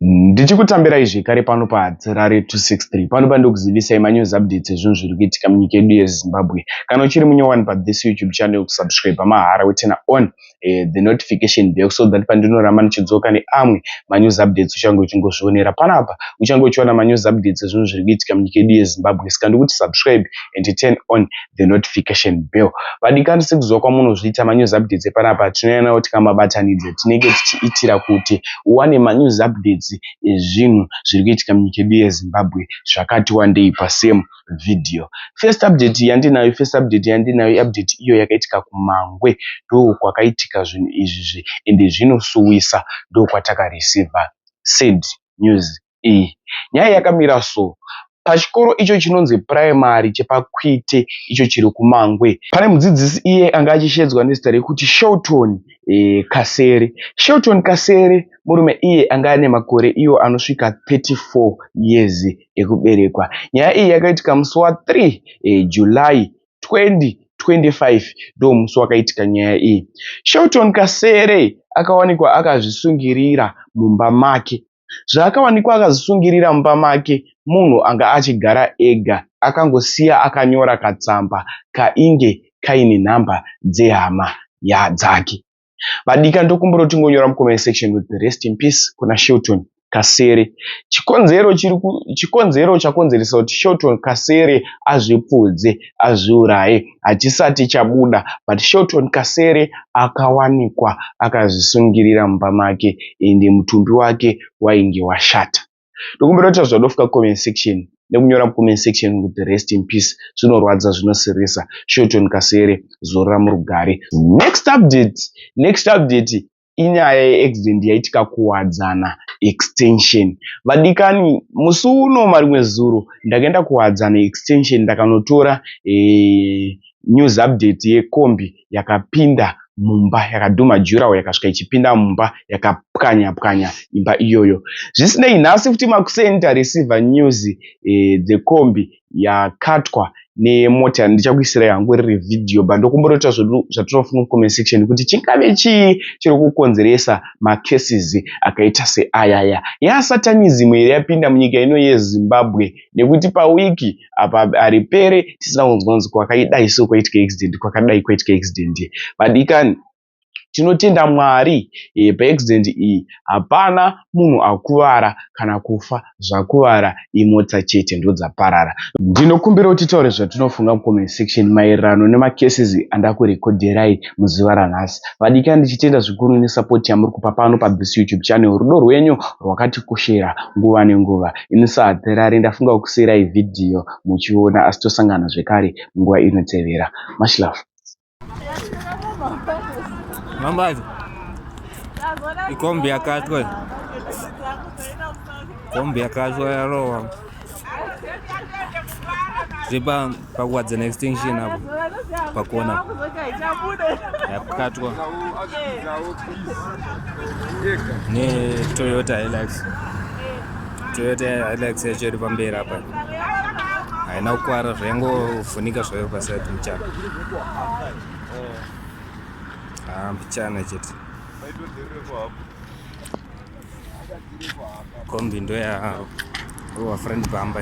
ndichikutambirai zvekare pano pahatirare 263 pano pandikuzivisai manews updates ezvinhu zviri kuitika munyika yedu yezimbabwe kana uchiri munyowani pathis youtube channel kusubscribe mahara wetena on eh, the notification bell so that pandinoramba ndichidzoka neamwe manews updates uchange uchingozvionera panapa uchange uchiona manews updates ezvinhu zviri kuitika munyika yedu yezimbabwe saka ndikuti subscribe and turn on the notification bell vadikanwi sekuziva kwamunozviita ma news updates epanapa tinouya nawo tikamabatanidza tinenge tichiitira kuti uwane ma news updates ezvinhu zviri kuitika munyika yedu yezimbabwe zvakati wandei pa same video first update yandinayo first update yandinayo update iyo yakaitika kumangwe ndokwakaitika zvinhu izvi zve ende zvinosuwisa ndokwataka receiver said news iyi nyaya yakamira so pachikoro icho chinonzi primary chepakwite icho chiri kumangwe pane mudzidzisi iye anga achishedzwa nezita rekuti shelton e, kasere shelton kasere murume iye anga ane makore iyo anosvika 34 years ekuberekwa nyaya iyi yakaitika musi wa 3 e, july 20 25 ndo musi wakaitika nyaya iyi shelton kasere akawanikwa akazvisungirira mumba make Zvaakawanikwa akazvisungirira mumba make munhu anga achigara ega akangosiya akanyora katsamba kainge Kaine number dzehama dzake. Vadika ndokumbira kuti tingonyora mucomment section kuti rest in peace kuna Shilton Kasere. Chikonzero chiri chikonzero chakonzeresa kuti Shilton Kasere azvipfudze azviuraye. hachisati chabuda but Shelton Kasere akawanikwa akazvisungirira mumba make and mutumbi wake wainge washata. Ndokumbira kuti zvadofika comment section nekunyora comment section kuti rest in peace zvinorwadza zvinosirisa Shelton Kasere zorora murugare. Next update, next update inyaya yeaccident yaitika kuwadzana extension vadikani musi uno marimwe zuro ndakaenda kuwadzana extension ndakanotora eh, news update yekombi yakapinda mumba yakadhuma jurawo yakasvika ichipinda mumba yakapwanya pwanya imba iyoyo zvisinei nhasi futi makuseni tareceiver news eh, dzekombi yakatwa nemota ndichakuisirai hangu riri vhidhiyo but ndokumbotoita zvedu zvatinofunga mucomment section kuti chingave chii chiri kukonzeresa macases akaita seayaya yasatanism here yapinda munyika ino yezimbabwe nekuti pawiki apa haripere tisina kunzwa kunzi kwakaidai so kwaitika accident kwakadai kwaitika accident vadikani Tinotenda Mwari ee pa accident iyi hapana munhu akuvara kana kufa zvakuvara imotsa chete ndodzaparara. Ndinokumbira kuti titaure zvatinofunga mu comment section maererano nema cases andaku recodherai muzuva ranhasi. Vadikani ndichitenda zvikuru ne support yamuri kupa pano pa this YouTube channel rudo rwenyu rwakatikoshera nguva ne nguva ini sa Hatherare ndafunga kukusiirai video muchiona asi tosangana zvekare munguva inotevera. Much love. Mambazo. Ikombi yakatwa. Kombi yakatwa yarowa. Zvipa pakuwadza na extinction apo pakona yakukatwa ne Toyota Hilux. Toyota Hilux yacho iri pamberi apa. Haina kukwara zvaingovhunika zvayo pasati muchana. mbichana chete kombi ndo yaavo uwa friend bamba